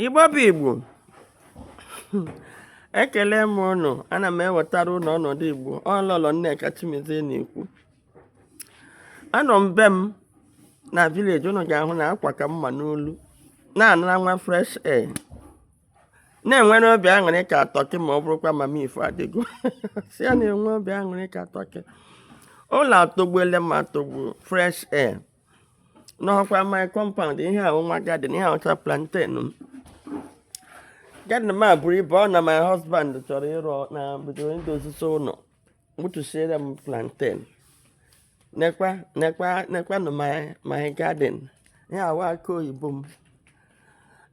igbo bụ igbo ekelee m ụnụ ana m ewetara ụnụ ọnọdụ igbo ọ lọlọ nneka chimezie na-ekwu anọ m be m na village ụnụ ga-ahụ na akwa ka mma n'olu na-anara nwa fresh air na-enwere obi aṅụrị ka turkey ma ọ bụrụkwa mama ifo adịgo si ya na-enwe obi aṅụrị ka turkey ụlọ atọgbuele m atọgbu fresh air ụnụ hụkwa my compound ihe a wụ nwa garden ihe a wụcha plantain m garden m a buru ibu ọ na my husband chọrọ ịrụ na bido idozizi ụlọ gbutusiere m plantain nekwa nekwa nekwa nụ my my garden ihe a wụ akị oyibo m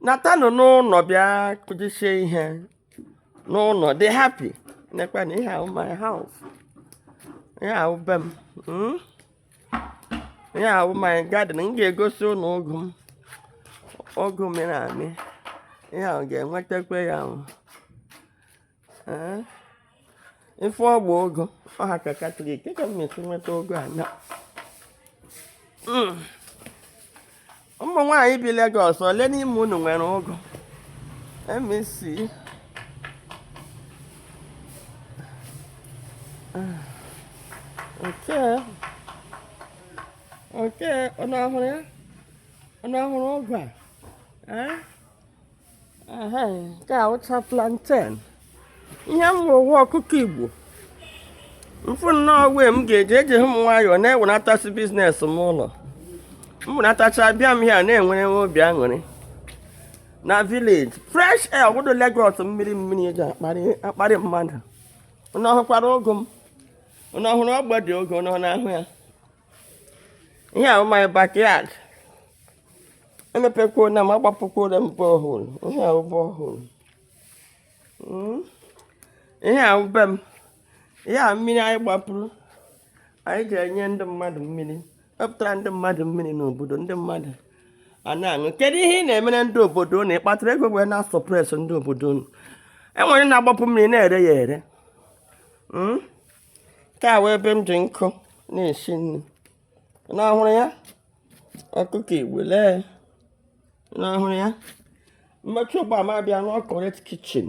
natanụ n'ụlọ bịa kụjisie ihe n'ụlọ dị happy nekwanụ ihe a wụ my house ihe a wụ be m hmm? ihe a wụ my garden m ga-egosi ụnụ ụgụ m ụgụ mịrị amị ihe ahụ ga-enwetakwa ya ahụ ife ọ bụ ụgụ ọha ka katọlik ka m esi nweta ụgụ a na ụmụ nwaanyị bi Lagos ole n'ime unu nwere ụgụ MEC nke nke unu ahụrụ ya unu ahụrụ ụgụ a nke a wụcha plantain ihe nwa wụ ọkụkọ igbo mfụ nnọọ wee m ga-eji eji m nwayọọ na-ewenatachi business m ụlọ m wenatacha bịa m ya na-enwere nwe obi aṅụrị na village fresh air obodo Lagos mmiri mmiri eji akparị mmadụ ụnụ ọ hụkwara ụgụ m ụnụ ọ hụrụ ọgbadụ ụgụ ụnụ na-ahụ ya ihe a wụ my backyard emepekwuona m agbapukwuona m borehole ihe a wụ borehole hmm? ihe a wụ be m ihe a mmiri anyị gbapuru anyị ga-enye ndị mmadụ mmiri wepụtara ndị mmadụ mmiri n'obodo ndị mmadụ a na-aṅụ kedu ihe ị na-emere ndị obodo unu ị kpatara ego wee na-asuppress ndị obodo unu were na-agbapu mmiri na-ere ya ere hmm? nke a wụ ebe m ji nkụ na-esi nri ụnụ hụrụ ya ọkụkọ igbo lee ụnụ ọ hụrụ ya m mechaa ugbu a m abịa rụọ correct kitchen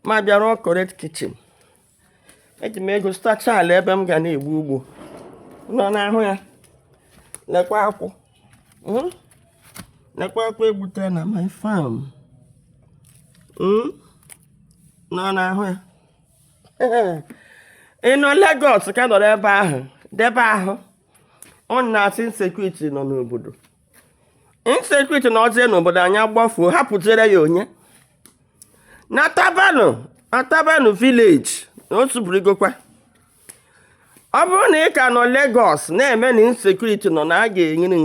m abịa rụọ correct kitchen eji m ego zụtacha ala ebe m ga na-egbu ugbo ụnụ na-ahụ ya nekwa akwụ hmm? nekwa akwụ e gbutere na my farm hmm? ụnụ na-ahụ ya ị nọ Lagos ka nọrọ ebe ahụ debe ahụ ọ na-asị insecurity nọ n'obodo insecurity nọzie n'obodo anyị agbafuo hapụziere ya onye natabanụ natabanụ village na o suburigokwa ọ bụrụ na ị ka nọ Lagos na-eme na insecurity nọ na a ga-enyere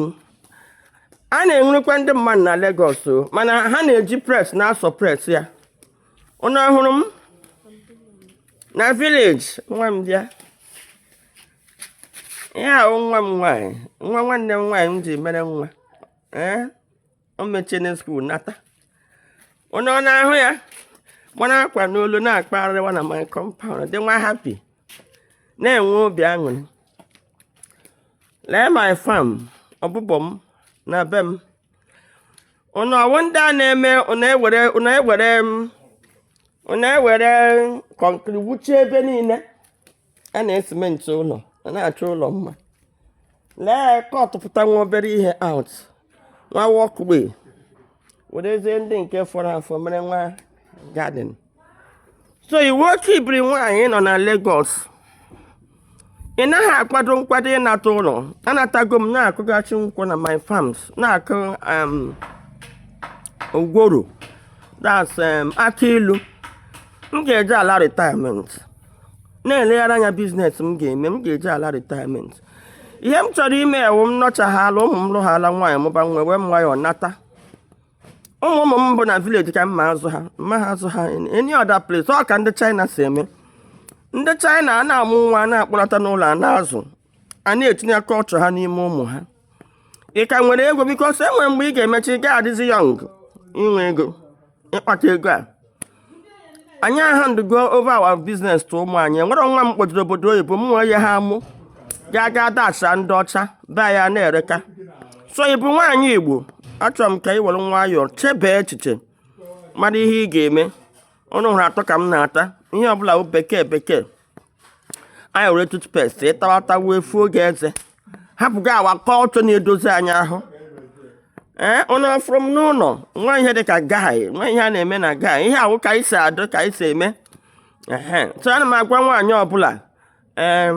a na-ewerekwa ndị mmadụ na Lagos o mana ha na-eji press na-asuppress ya unu hụrụ m na village nwa m bịa ya ahụ nwa m nwaanyị nwa nwanne m nwaanyị m ji mere nwa ee o mechene school nata unu na-ahụ ya mara akwa n'olu na-akpagharịwa na my compound dịwa happy na-enwe obi aṅụrị lee my farm ọbụbọ m na be m ụnụ wụ ndị a na-eme ụnụ ewere ụnụ ewere m ụnụ ewere concrete wuchie ebe niile a na-esimenti ụlọ a na-achọ ụlọ mma lee cutpụta nwa obere ihe out nwa walkway werezie ndị nke fọrọ afọ mere nwa garden so ị wụ oke ibiri nwaanyị ị nọ na Lagos ị naghị akwado nkwado ịnata ụlọ anatago m na-akụghachi nkwụ na my farms na-akụ um, ugworo that's um, akị ilu m ga-eji ala retirement na-elegharị anya business m ga-eme m ga-eji ala retirement ihe m chọrọ ime wụ m nọchahaala ụmụ m lụhaala nwaanyị mụba nwa ewere m nwayọọ nata ụmụ ụmụ m bụ na village ka m ma-azụ ha m maha azụ ha any other place ọ ka ndị China si eme ndị China a na-amụ nwa a na-akpọlata n'ụlọ a na-azụ a na-etinye culture ha n'ime ụmụ ha ị ka nwere ego because e nwere mgbe ị ga-emecha ị gaghị adịzi young inwe ego ịkpata ego a anyị ahandụgo over our business to ụmụ anyị nwere nwa m kpọjiri obodo oyibo m nwee ya ha mụ ga-aga dashịa ndị ọcha be ya na-ereka so ị bụ nwaanyị igbo achọrọ m ka ị were nwayọọ chebee echiche mara ihe ị ga-eme unu hụrụ atụ ka m na-ata ihe ọbụla bụ bekee bekee anyị ewere toothpaste ịtawa atụ wee fuo gị eze hapụga our culture na-edozi anyị ahụ ee ụnụ fụrụ m n'ụlọ nwa ihe dị ka guy nwa ihe a na-eme na guy ihe a wụ ka anyị si adị ka anyị si eme ehe so ana m agwa nwaanyị ọbụla ee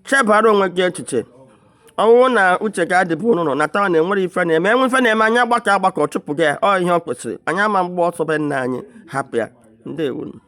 chebara onwe gị echiche ọ wụrụ na uche gị adịbu n'ụnọ natawa na enwerọ ife na-eme enwe ife na-eme anyị agbakọ agbakọ chụpụ ya ọ ihe o kwesịrị anyị ama agba ọsọ be nna anyị hapụ ya ndewonu